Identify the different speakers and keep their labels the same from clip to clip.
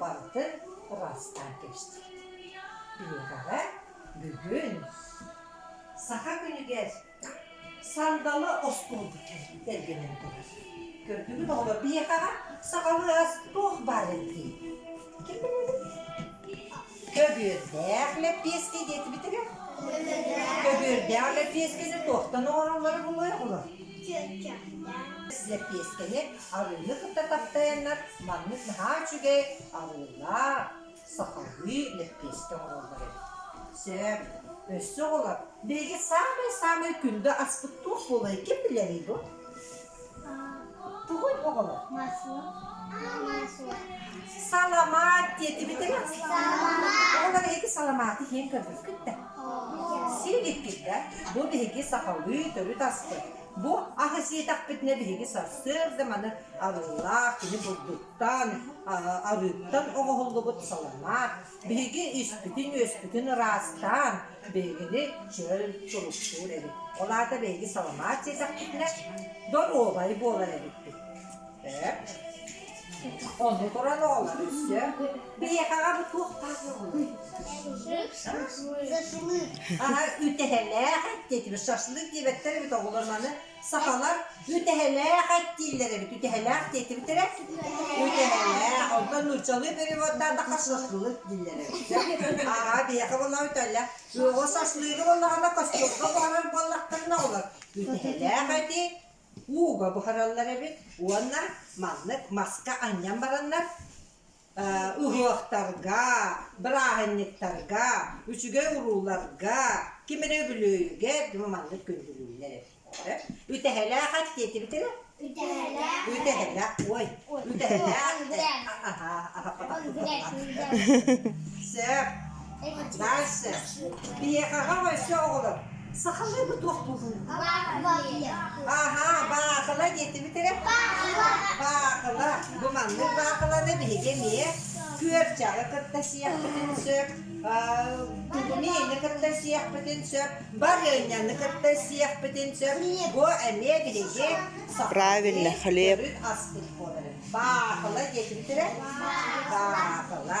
Speaker 1: барыта ыраастаан кэбистибит. Биэрэҕэ бүгүн саха күнүгэр сандалы остуолга тэлгэнэн турар. Көрдүгүт оҕолор биһиэхэҕэ сахалыы ас туох баарый дии. Ким билэбит? Көбүөрдээх лэппиэскэ диэтибитигэр көбүөрдээх лэппиэскэни туохтан оҥороллоро булуоҕулар лэппиэскэни арыыны кытта таптайаннар маннык наһаа үчүгэй арыылаах сахалыы лэппиэскэ оҥороллор эбит сөп өссө оҕолор биһиги саамай саамай күндү аспыт туох буолай ким билэрий бу Тугуй оҕолор? Масла. Масла. Саламат диэтибитэ. Оҕолор эһиги саламааты иһин көрбүскүт да? Сиигиккит да? Бу биһиги сахалыы төрүт асты. Бу аһы сиэтэхпитинэ биһиги сарсыарда маны арыылаах кини бурдуктан, арыыттан оҕоһуллубут саламаат, Биһиги испитин-үөспүтүн ыраастаан, биһигини чөл, чурупчуур эбит. Ол аата биһиги саламаат сиэсэхпитинэ доруобай буолар эбиппит. Ээ? Ону туран оҕолор өссө биһиэхэҕэ бу туохтаах буоллуй? Аһа, үтэһэлээх эттиэтибит, шашлык диэбэттэр эбит оҕолор маны. сахалар үтэһэлээх эттииллэр эбит үтэһэлээх диэтибиттэрэ үтэһэлээх онтон нууччалыы переводтаан да хашашлык дииллэр эбит аhaa биэхэ болла үтэллэх үөҕө сашлыыга боллаҕына костюмга буһарар буоллахтарына олор үтэһэлээх эти ууга буһараллар эбит уонна маннык маска анньан бараннар Уһуохтарга, бырааһынньыктарга, үчүгэй-урууларга, ким эрэ үбүлүөйүгэр маннык күндүлүүннэр эттилэр. Үтэһэлээх эттиэтибитэ. Үтэһэлээх. Үтэһэлээх. Ой. Үтэһэлээх. Аһаа. Сөп. Настя, биһиэхэҕэ өссө оҕолор сахалыы туох буолуой? Аһаа, баахыла диэтибит эрэ. Баахыла, бу маннык баахыланы биһиги эмиэ күөрчэҕи кытта сиэхпитин сөп, тулумиины кытта сиэхпитин сөп, барыанньаны кытта сиэхпитин сөп. Бу эмиэ биһиги правильно, хлеб. Астык буолар. Баахыла диэтибит эрэ. Баахыла.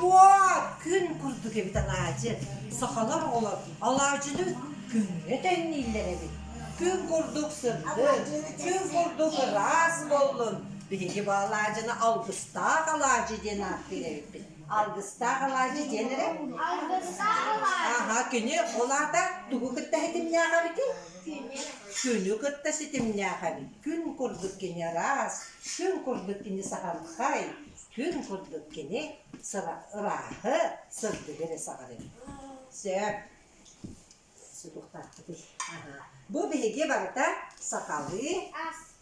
Speaker 1: Буа күн курдук эбит алаадьы. Сахалар оҕолор алаадьыны күҥҥэ тэннииллэр эбит. Күн курдук сырдын, күн курдук ыраас боллун. Биһиги бу алаадьыны алгыстаах алаадьы диэн ааттыыр эбиппит. Алгыстаах алаадьы диэн эрэ. Алгыстаах алаадьы. Аха, күнү ол аата тугу кытта этимнээх эбитий? Күнү кытта ситимнээхэн күн курдук кини араас, күн курдук кини саҕанхай, күн курдук кини сыла- ырааһы, сырдыгы эрэ саҕарыам. Сөп. Судургутаахпытый? Аһа. Бу биһиги барыта сахалыы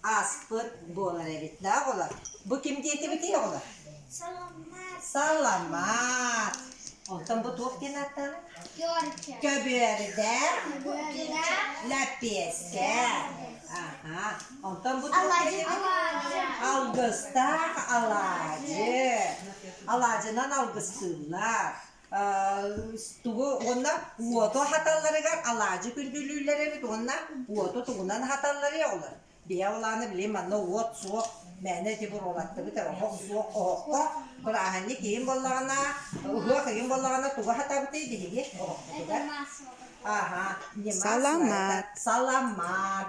Speaker 1: Ааспыт буолар эбит да оҕолор. Бу ким диэтибитий оҕолор? Саламат. Онтон бу туох диэн ааттаана? Көбүөрдэ. Лэпиэскэ. Аха. Онтон бу туох диэн Алгыстаах алаадьы. Алаадьынан алгыстыыллар. тугу уонна уоту аһаталларыгар алаадьы күндүлүүллэр эбит уонна уоту тугунан аһаталларый оҕолор биһэ ол ааны билим манна уот суох мээнэ ити буруолаттыбыт оһох суох оһоххо бырааһынньык киһим боллаҕына уһуох ыйым боллаҕына тугу аһатабытый биһиги оһохпутугар аха ньыма саламат саламат